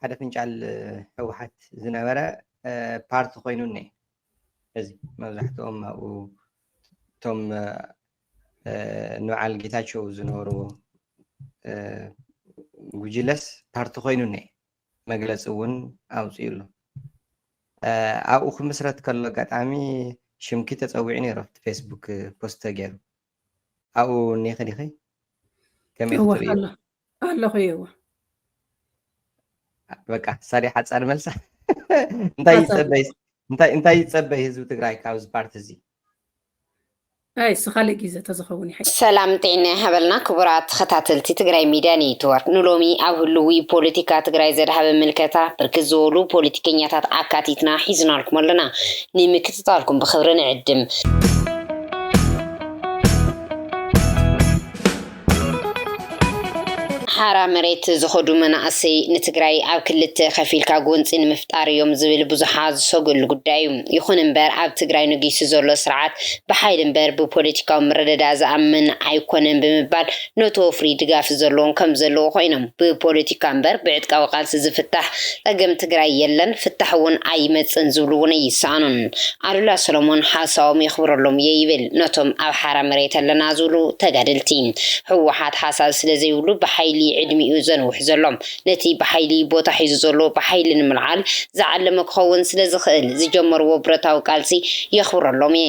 ሓደ ፍንጫል ህወሓት ዝነበረ ፓርቲ ኮይኑ እኒ እዚ መብዛሕትኦም ኣብኡ እቶም ንበዓል ጌታቸው ዝነበሩ ጉጅለስ ፓርቲ ኮይኑ እኒ መግለፂ እውን ኣውፅኡ ኣሎ ኣብኡ ክምስረት ከሎ ኣጋጣሚ ሽምኪ ተፀዊዑ ነይሩ ኣብቲ ፌስቡክ ፖስት ተገይሩ ኣብኡ እኒኺ ዲኺ ከመይ እወ ክትርእዩ ኣሎ ኣለኹ እየ እወ በቃ ሳዲ ሓፃር መልሳ እንታይ ሓሳብ ይፀበይ እንታይ እንታይ ይፀበይ ህዝቢ ትግራይ ካብዚ ፓርቲ እዚ ኣይ እሱ ካልእ ግዜ ተዝኸውን ይሓይ ሰላም ጥዕና ይሃበልና ክቡራት ተኸታተልቲ ትግራይ ሚድያ ኔትወርክ ንሎሚ ኣብ ህልዊ ፖለቲካ ትግራይ ዘድሃበ ምልከታ ብርክት ዝበሉ ፖለቲከኛታት ኣካቲትና ሒዝናልኩም ኣለና ንምክት ምባልኩም ብክብሪ ንዕድም። ሓራ መሬት ዝኸዱ መናእሰይ ንትግራይ ኣብ ክልተ ከፊልካ ጎንፂ ንምፍጣር እዮም ዝብል ብዙሓ ዝሰግእሉ ጉዳይ እዩ። ይኹን እምበር ኣብ ትግራይ ነጊሱ ዘሎ ስርዓት ብሓይሊ እምበር ብፖለቲካዊ ምርድዳእ ዝኣምን ኣይኮነን ብምባል ነቲ ወፍሪ ድጋፍ ዘለዎም ከምዘለዉ ኮይኖም ብፖለቲካ እምበር ብዕጥቃዊ ቃልሲ ዝፍታሕ ፀገም ትግራይ የለን ፍታሕ እውን ኣይመፅእን ዝብሉ እውን ኣይሰኣኑን። ኣሉላ ሰሎሞን ሓሳቦም የኽብረሎም እየ ይብል ነቶም ኣብ ሓራ መሬት ኣለና ዝብሉ ተጋደልቲ። ህወሓት ሓሳብ ስለዘይብሉ ብሓይሊ ዕድሚኡ ዘንውሕ ዘሎ ነቲ ብሓይሊ ቦታ ሒዙ ዘሎ ብሓይሊ ንምልዓል ዝዓለመ ክኸውን ስለዝኽእል ዝጀመርዎ ብረታዊ ቃልሲ የኽብረሎም እየ።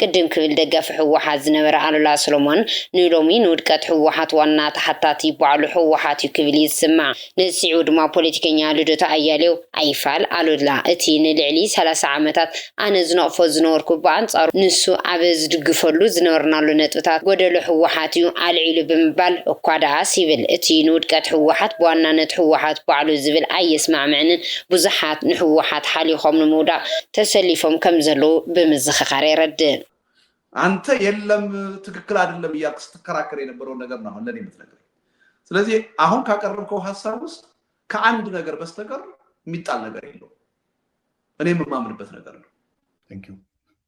ቅድም ክብል ደጋፊ ህወሓት ዝነበረ ኣሉላ ሰሎሞን ንሎሚ ንውድቀት ህወሓት ዋና ተሓታቲ ባዕሉ ህወሓት እዩ ክብል እዩ ዝስማዕ። ነዚ ስዒቡ ድማ ፖለቲከኛ ልደቱ ኣያሌው ኣይፋል ኣሉላ እቲ ንልዕሊ ሰላሳ ዓመታት ኣነ ዝነቕፎ ዝነበርኩ ብኣንፃሩ ንሱ ኣብ ዝድግፈሉ ዝነበርናሉ ነጥብታት ጎደሎ ህወሓት እዩ ኣልዒሉ ብምባል እኳ ደኣስ ይብል እቲ ንውድቀት ህወሓት ብዋናነት ህወሓት ባዕሉ ዝብል ኣየስማዕምዕንን ብዙሓት ንህወሓት ሓሊኾም ንምውዳቕ ተሰሊፎም ከምዘለዉ ብምዝኽኻር የረድእ። ኣንተ የለም ትክክል ኣደለም እያልክ ስትከራከር የነበረው ነገር ነው አሁን ለኔ የምትነግረኝ ስለዚ አሁን ካቀረብከው ሀሳብ ውስጥ ከአንድ ነገር በስተቀር የሚጣል ነገር የለውም እኔ የምማምንበት ነገር ነው።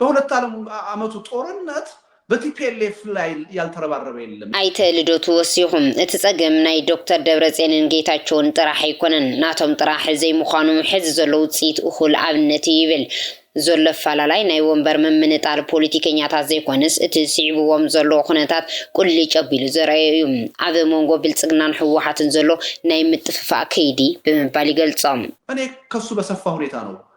በሁለት ዓለም ዓመቱ ጦርነት በቲፒኤልኤፍ ላይ ያልተረባረበ የለም። ኣይተ ልደቱ ወሲኹም፣ እቲ ፀገም ናይ ዶክተር ደብረፅዮንን ጌታቸውን ጥራሕ ኣይኮነን፣ ናቶም ጥራሕ ዘይምዃኑ ሕዚ ዘሎ ውፅኢት እኹል ኣብነት እዩ ይብል። ዘሎ ኣፈላላይ ናይ ወንበር ምምንጣል ፖለቲከኛታት ዘይኮነስ እቲ ስዒቡዎም ዘሎ ኩነታት ቁሊጭ ኣቢሉ ዘርኣዮ እዩ። ኣብ ሞንጎ ብልፅግናን ህወሓትን ዘሎ ናይ ምጥፍፋእ ከይዲ ብምባል ይገልፆ። እኔ ከሱ በሰፋ ሁኔታ ነው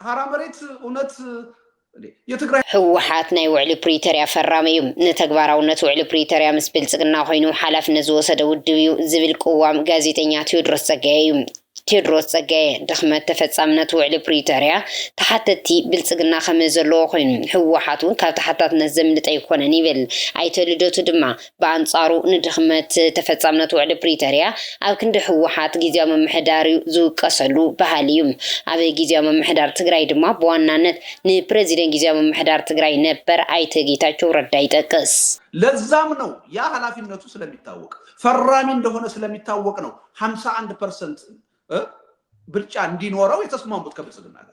ሀራ መሬት እውነት የትግራይ ህወሓት ናይ ውዕሊ ፕሪቶርያ ፈራሚ እዩ። ንተግባራውነት ውዕሊ ፕሪቶርያ ምስ ብልፅግና ኮይኑ ሓላፍነት ዝወሰደ ውድብ እዩ ዝብል ቅዋም ጋዜጠኛ ቴዎድሮስ ፀጋዬ እዩ። ቴድሮስ ፀጋዬ፣ ድኽመት ተፈፃምነት ውዕሊ ፕሪቶርያ ተሓተትቲ ብልፅግና ከመዘለዎ ኮይኑ ህወሓት እውን ካብ ተሓታትነት ዘምልጥ ኣይኮነን ይብል። ኣይተ ልደቱ ድማ ብኣንጻሩ ንድኽመት ተፈጻምነት ውዕሊ ፕሪቶርያ ኣብ ክንዲ ህወሓት ግዝያዊ ምምሕዳር ዩ ዝውቀሰሉ በሃሊ ዩ። ኣብ ግዝያዊ ምምሕዳር ትግራይ ድማ ብዋናነት ንፕረዚደን ግዝያዊ ምምሕዳር ትግራይ ነበር ኣይተ ጌታቸው ረዳ ይጠቅስ። ለዛም ነው ያ ሀላፊነቱ ስለሚታወቅ ፈራሚ እንደሆነ ስለሚታወቅ ነው ሃምሳ አንድ ፐርሰንት ብልጫ እንዲኖረው የተስማሙት ከብልጽግና ጋር።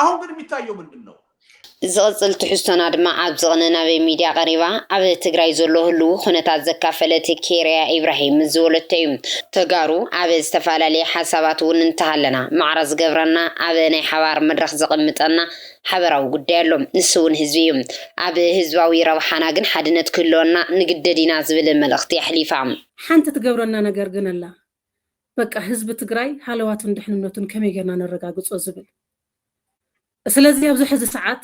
ኣሁን ግን የሚታየው ምንድን ነው? ዝቕጽል ትሕዝቶና ድማ ኣብ ዝቕነ ናበይ ሚድያ ቀሪባ ኣብ ትግራይ ዘሎ ህልዉ ኩነታት ዘካፈለት ኬርያ ኢብራሂም ምስ ዝወለቶ እዩ። ተጋሩ ኣብ ዝተፈላለየ ሓሳባት እውን እንተሃለና ማዕረ ዝገብረና ኣብ ናይ ሓባር መድረኽ ዘቐምጠና ሓበራዊ ጉዳይ ኣሎ። ንሱ እውን ህዝቢ እዩ። ኣብ ህዝባዊ ረብሓና ግን ሓድነት ክህልወና ንግደድ ኢና ዝብል መልእኽቲ ኣሕሊፋ። ሓንቲ ትገብረና ነገር ግን ኣላ። በቃ ህዝቢ ትግራይ ሃለዋቱን ድሕንነቱን ከመይ ጌርና ነረጋግፆ ዝብል ስለዚ ኣብዚ ሕዚ ሰዓት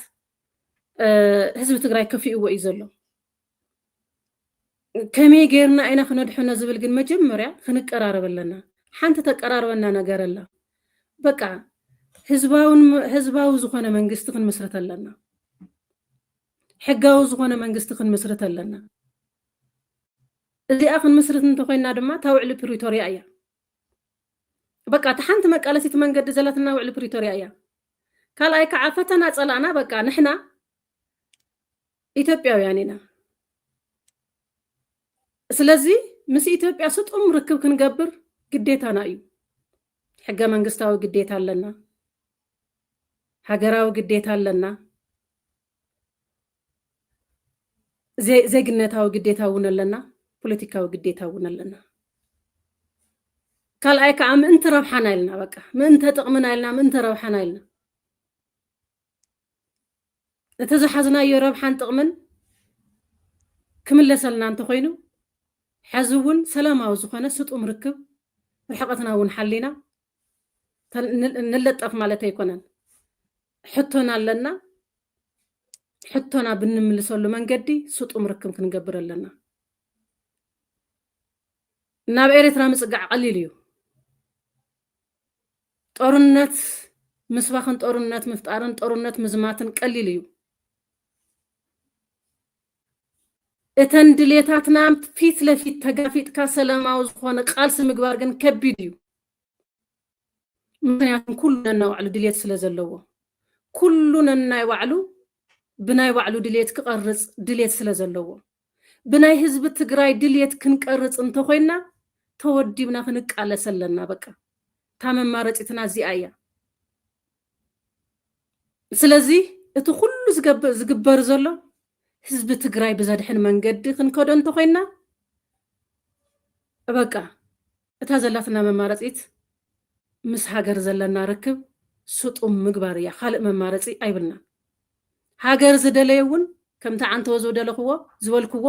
ህዝቢ ትግራይ ከፊእዎ እዩ ዘሎ ከመይ ጌርና ኢና ክነድሕኖ ዝብል ግን መጀመርያ ክንቀራረብ ኣለና ሓንቲ ተቀራርበና ነገር ኣላ በቃ ህዝባዊ ዝኾነ መንግስቲ ክንምስረት ኣለና ሕጋዊ ዝኾነ መንግስቲ ክንምስርት ኣለና። እዚኣ ክንምስርት እንተኾይንና ድማ እታ ውዕሊ ፕሪቶርያ እያ። በቃ እቲ ሓንቲ መቃለሲት መንገዲ ዘለትና ውዕሊ ፕሪቶርያ እያ። ካልኣይ ከዓ ፈተና ፀላእና በቃ ንሕና ኢትዮጵያውያን ኢና። ስለዚ ምስ ኢትዮጵያ ስጡም ርክብ ክንገብር ግዴታና እዩ። ሕገ መንግስታዊ ግዴታ ኣለና። ሃገራዊ ግዴታ ኣለና፣ ዜግነታዊ ግዴታ እውን ኣለና፣ ፖለቲካዊ ግዴታ እውን ኣለና። ካልኣይ ከዓ ምእንቲ ረብሓና ኢልና በቃ ምእንተ ጥቕምና ኢልና ምእንተ ረብሓና ኢልና እቲ ዝሓዝናዮ ረብሓን ጥቕምን ክምለሰልና እንተኮይኑ ሕዚ እውን ሰላማዊ ዝኾነ ስጡም ርክብ ርሕቐትና እውን ሓሊና ንለጠፍ ማለት ኣይኮነን። ሕቶና ኣለና ሕቶና ብንምልሰሉ መንገዲ ስጡም ርክብ ክንገብር ኣለና። ናብ ኤርትራ ምጽጋዕ ቀሊል እዩ። ጦርነት ምስባኽን ጦርነት ምፍጣርን ጦርነት ምዝማትን ቀሊል እዩ። እተን ድሌታትና ፊት ለፊት ተጋፊጥካ ሰላማዊ ዝኾነ ቃልሲ ምግባር ግን ከቢድ እዩ። ምክንያቱ ኩሉ ነናይ ባዕሉ ድልየት ስለ ዘለዎ ኩሉ ነናይ ባዕሉ ብናይ ባዕሉ ድልየት ክቐርጽ ድልየት ስለ ዘለዎ ብናይ ህዝቢ ትግራይ ድልየት ክንቀርጽ እንተኾይንና ተወዲብና ክንቃለስ ኣለና በቃ እታ መማረፂትና እዚኣ እያ ስለዚ እቲ ኩሉ ዝግበር ዘሎ ህዝቢ ትግራይ ብዘድሕን መንገዲ ክንከዶ እንተኮይንና በቃ እታ ዘላትና መማረፂት ምስ ሃገር ዘለና ርክብ ስጡም ምግባር እያ። ካልእ መማረፂ ኣይብልናን። ሃገር ዝደለየ እውን ከምቲ ዓንተወ ዝደለኽዎ ዝበልክዎ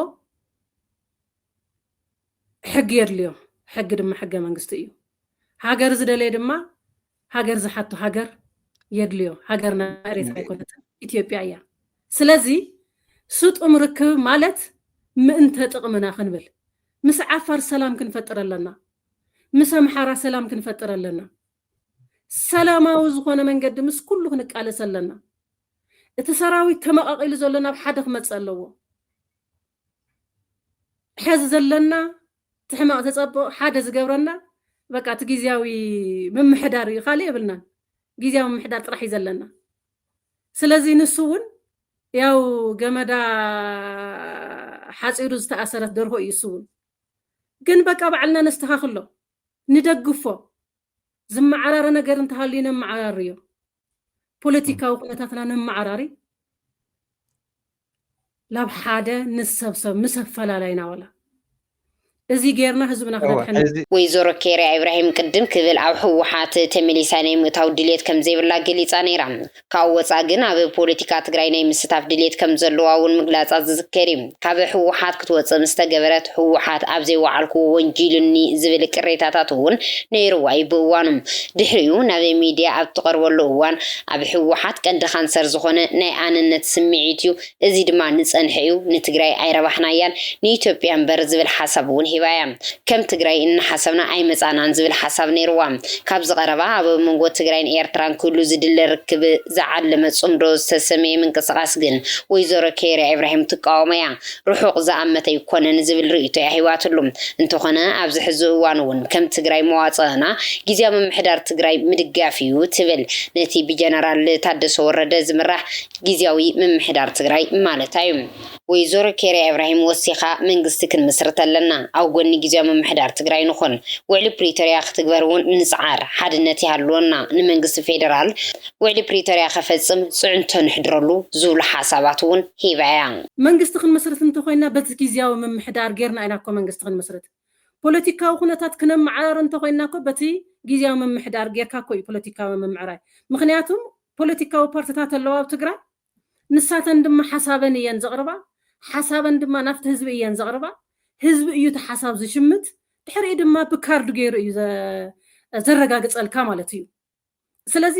ሕጊ የድልዮ። ሕጊ ድማ ሕገ መንግስቲ እዩ። ሃገር ዝደለየ ድማ ሃገር ዝሓቶ ሃገር የድልዮ ሃገርና ኤሬትራ ኣይኮነትን ኢትዮጵያ እያ ስለዚ ስጡም ርክብ ማለት ምእንተ ጥቅምና ክንብል ምስ ዓፋር ሰላም ክንፈጥር ኣለና ምስ ኣምሓራ ሰላም ክንፈጥር ኣለና ሰላማዊ ዝኾነ መንገዲ ምስ ኩሉ ክንቃለስ ኣለና እቲ ሰራዊት ተመቃቂሉ ዘሎ ናብ ሓደ ክመፅእ ኣለዎ ሕዚ ዘለና እቲ ሕማቕ እቲ ጸቡቕ ሓደ ዝገብረና በቃ እቲ ግዝያዊ ምምሕዳር እዩ ካልእ የብልናን ግዝያዊ ምምሕዳር ጥራሕ እዩ ዘለና ስለዚ ንሱ እውን ያው ገመዳ ሓፂሩ ዝተኣሰረት ደርሆ እዩ እሱ እውን ግን በቃ ባዕልና ነስተኻኽሎ ንደግፎ ዝመዓራረ ነገር እንተሃልዩ ነመዓራርዮ ፖለቲካዊ ኩነታትና ነመዓራሪ ናብ ሓደ ንሰብሰብ ምስ ኣፈላላይና ዋላ እዚ ጌርና ህዝብና ክነድሕን ወይዘሮ ኬርያ ኢብራሂም ቅድም ክብል ኣብ ህወሓት ተመሊሳ ናይ ምእታው ድልየት ከምዘይብላ ገሊፃ ነይራ። ካብኡ ወፃእ ግን ኣብ ፖለቲካ ትግራይ ናይ ምስታፍ ድልየት ከምዘለዋ እውን ምግላፃ ዝዝከር እዩ። ካብ ህወሓት ክትወፅእ ምስ ተገበረት ህወሓት ኣብ ዘይወዓልኩዎ ወንጂሉኒ ዝብል ቅሬታታት እውን ነይሩዋ እዩ ብእዋኑ። ድሕሪኡ ናብ ሚድያ ኣብ እትቐርበሉ እዋን ኣብ ህወሓት ቀንዲ ካንሰር ዝኾነ ናይ ኣነነት ስምዒት እዩ፣ እዚ ድማ ንፀንሐ እዩ፣ ንትግራይ ኣይረባሕናያን ንኢትዮጵያ እምበር ዝብል ሓሳብ እውን ሂባ እያ። ከም ትግራይ እናሓሰብና ኣይመፃእናን ዝብል ሓሳብ ነይርዋ። ካብዚ ቀረባ ኣብ መንጎ ትግራይን ኤርትራን ክህሉ ዝድለ ርክብ ዝዓለመ ፅምዶ ዝተሰመየ ምንቅስቓስ ግን ወይዘሮ ኬይራ ኢብራሂም ትቃወሞ እያ። ርሑቕ ዝኣመተ ኣይኮነን ዝብል ርእይቶ እያ ሂባትሉ። እንተኾነ ኣብዚ ሕዚ እዋን እውን ከም ትግራይ መዋፅእና ጊዚያዊ ምምሕዳር ትግራይ ምድጋፍ እዩ ትብል። ነቲ ብጀነራል ታደሰ ወረደ ዝምራሕ ጊዚያዊ ምምሕዳር ትግራይ ማለታ እዩ። ወይዘሮ ኬርያ ኢብራሂም ወሲኻ፣ መንግስቲ ክንምስርት ኣለና፣ ኣብ ጎኒ ግዝያዊ ምምሕዳር ትግራይ ንኹን፣ ውዕሊ ፕሪቶርያ ክትግበር እውን ንፅዓር፣ ሓድነት ይሃልወና፣ ንመንግስቲ ፌደራል ውዕሊ ፕሪቶርያ ከፈፅም ፅዕንቶ ነሕድረሉ ዝብሉ ሓሳባት እውን ሂባ እያ። መንግስቲ ክንምስርት እንተኾይንና በቲ ግዝያዊ ምምሕዳር ገይርና ኢና እኮ መንግስቲ ክንምስርት። ፖለቲካዊ ኩነታት ክነመዓራሪ እንተኾይንና እኮ በቲ ግዝያዊ ምምሕዳር ገይርካ እኮ እዩ ፖለቲካዊ ምምዕራይ። ምኽንያቱም ፖለቲካዊ ፓርቲታት ኣለዋ ኣብ ትግራይ። ንሳተን ድማ ሓሳበን እየን ዘቕርባ፣ ሓሳበን ድማ ናብቲ ህዝቢ እየን ዘቕርባ፣ ህዝቢ እዩ እቲ ሓሳብ ዝሽምት፣ ድሕሪኡ ድማ ብካርድ ገይሩ እዩ ዘረጋግፀልካ ማለት እዩ። ስለዚ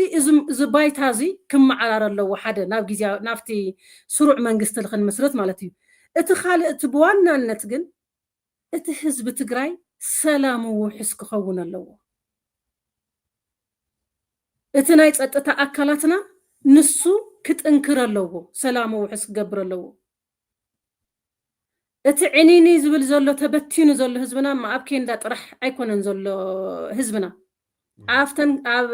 እዚ ባይታ እዚ ክመዓራረ ኣለዎ ሓደ ናብ ግዝያዊ ናብቲ ስሩዕ መንግስቲ ንክንምስርት ማለት እዩ። እቲ ካልእ እቲ ብዋናነት ግን እቲ ህዝቢ ትግራይ ሰላሙ ውሑስ ክኸውን ኣለዎ። እቲ ናይ ፀጥታ ኣካላትና ንሱ ክጥንክር ኣለዎ፣ ሰላሙ ውሑስ ክገብር ኣለዎ። እቲ ዕንይንይ ዝብል ዘሎ ተበቲኑ ዘሎ ህዝብና እማ ኣብ ኬንዳ ጥራሕ ኣይኮነን ዘሎ ህዝብና ኣብተን ኣብ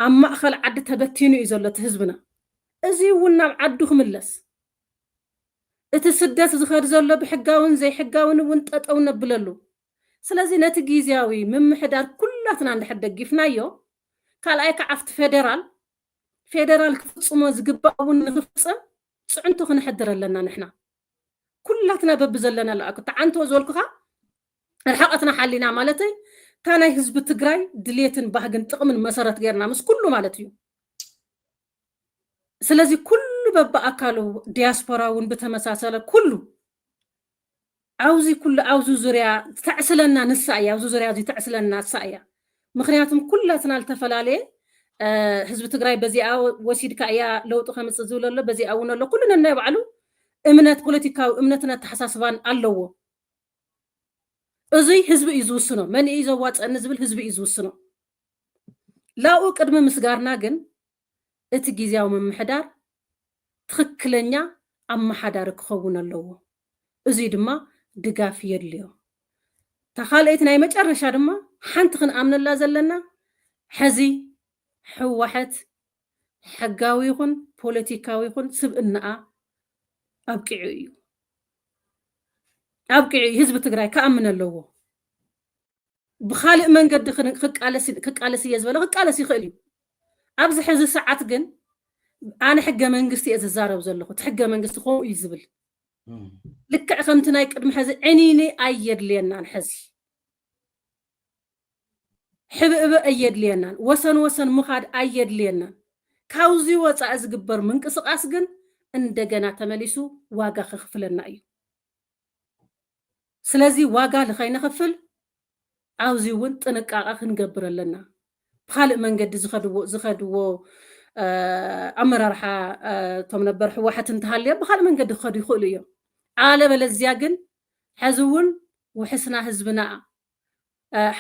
ኣብ ማእኸል ዓዲ ተበቲኑ እዩ ዘሎ እቲ ህዝብና። እዚ እውን ናብ ዓዱ ክምለስ እቲ ስደት ዝኸድ ዘሎ ብሕጋውን ዘይሕጋውን እውን ጠጠው ነብለሉ። ስለዚ ነቲ ጊዚያዊ ምምሕዳር ኩላትና እንድሕር ደጊፍናዮ፣ ካልኣይ ከዓ ኣብቲ ፌደራል፣ ፌደራል ክፍፅሞ ዝግባእ እውን ንክፍፅም ፅዕንቶ ክነሕድር ኣለና ንሕና ኩላትና በብዘለናሉ ኣክ ተዓንቶ ዝበልኩኻ ርሕቐትና ሓሊና ማለተይ እታ ናይ ህዝቢ ትግራይ ድሌትን ባህግን ጥቕምን መሰረት ገይርና ምስ ኩሉ ማለት እዩ። ስለዚ ኩሉ በብኣካሉ ዲያስፖራ እውን ብተመሳሰለ ኩሉ ኣብዚ ኩሉ ኣብዚ ዙርያ ተዕስለና ንሳ እያ ኣብዚ ዙርያ እዚ ተዕስለና ንሳ እያ ምክንያቱም ኩላትና ዝተፈላለየ ህዝቢ ትግራይ በዚኣ ወሲድካ እያ ለውጢ ከምፅእ ዝብል ኣሎ በዚኣ እውን ኣሎ ኩሉ ነናይ ባዕሉ እምነት ፖለቲካዊ እምነትን ኣተሓሳስባን ኣለዎ እዙይ ህዝቢ እዩ ዝውስኖ መን እዩ ዘዋፀኒ ዝብል ህዝቢ እዩ ዝውስኖ ላብኡ ቅድሚ ምስጋርና ግን እቲ ጊዚያዊ ምምሕዳር ትኽክለኛ ኣመሓዳሪ ክኸውን ኣለዎ። እዙይ ድማ ድጋፍ የድልዮ። እታ ካልኣይቲ ናይ መጨረሻ ድማ ሓንቲ ክንኣምነላ ዘለና ሐዚ ህወሐት ሕጋዊ ይኹን ፖለቲካዊ ይኹን ስብእናኣ ኣብቂዑ እዩ። ኣብቂዑ ህዝቢ ትግራይ ክኣምን ኣለዎ። ብኻልእ መንገዲ ክቃለስ እየ ዝበለ ክቃለስ ይኽእል እዩ። ኣብዚ ሕዚ ሰዓት ግን ኣነ ሕገ መንግስቲ እየ ዝዛረብ ዘለኹ እቲ ሕገ መንግስቲ ከምኡ እዩ ዝብል ልክዕ ከምቲ ናይ ቅድሚ ሕዚ ዕኒኒ ኣየድልየናን ሕዚ ሕብእበ ኣየድልየናን ወሰን ወሰን ምኻድ ኣየድልየናን ካብዚ ወፃኢ ዝግበር ምንቅስቃስ ግን እንደገና ተመሊሱ ዋጋ ከኽፍለና እዩ። ስለዚ ዋጋ ንኸይነኽፍል ኣብዚ እውን ጥንቃቐ ክንገብር ኣለና። ብኻልእ መንገዲ ዝኸድዎ ዝኸድዎ ኣመራርሓ እቶም ነበር ህወሓት እንተሃልዮም ብኻልእ መንገዲ ክኸዱ ይኽእሉ እዮም። ኣለበለዚያ ግን ሕዚ እውን ውሕስና ህዝብና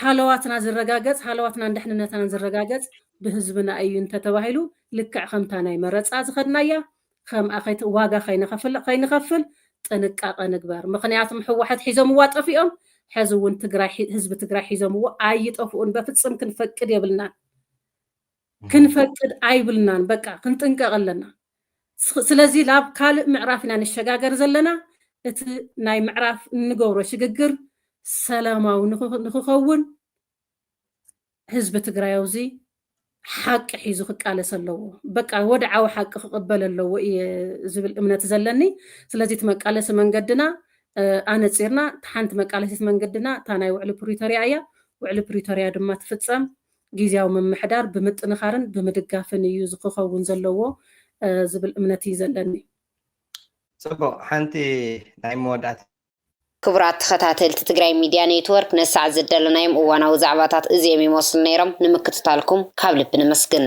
ሓለዋትና ዝረጋገጽ ሃለዋትናን ደሕንነትናን ዝረጋገጽ ብህዝብና እዩ እንተተባሂሉ ልክዕ ከምታ ናይ መረጻ ዝኸድናያ ከምኣ ከይት ዋጋ ከይነኸፍል ከይንኸፍል ጥንቃቐ ንግበር ምኽንያቱም ሕዋሐት ሒዞምዋ ጠፊኦም ሐዚ እውን ትግራይ ህዝቢ ትግራይ ሒዞምዎ ኣይጠፍኡን በፍጽም ክንፈቅድ የብልናን። ክንፈቅድ ኣይብልናን በቃ ክንጥንቀቅ ኣለና ስለዚ ናብ ካልእ ምዕራፍ ኢና ንሸጋገር ዘለና እቲ ናይ ምዕራፍ እንገብሮ ሽግግር ሰላማዊ ንክኸውን ህዝቢ ትግራይ ኣብዚ ሓቂ ሒዙ ክቃለስ ኣለዎ በቃ ወድዓዊ ሓቂ ክቕበል ኣለዎ እየ ዝብል እምነት ዘለኒ ስለዚ እቲ መቃለሲ መንገድና ኣነፂርና ሓንቲ መቃለሲት መንገድና እታ ናይ ውዕሊ ፕሪቶሪያ እያ ውዕሊ ፕሪቶሪያ ድማ ትፍፀም ጊዚያዊ ምምሕዳር ብምጥንኻርን ብምድጋፍን እዩ ዝክከውን ዘለዎ ዝብል እምነት እዩ ዘለኒ። ጽቡቕ ሓንቲ ናይ መወዳእታ። ክቡራት ተኸታተልቲ ትግራይ ሚድያ ኔትወርክ ነዚ ሰዓት ዝደለናዮም እዋናዊ ዛዕባታት እዚኦም ይመስሉ ነይሮም። ንምክትታልኩም ካብ ልቢ ነመስግን።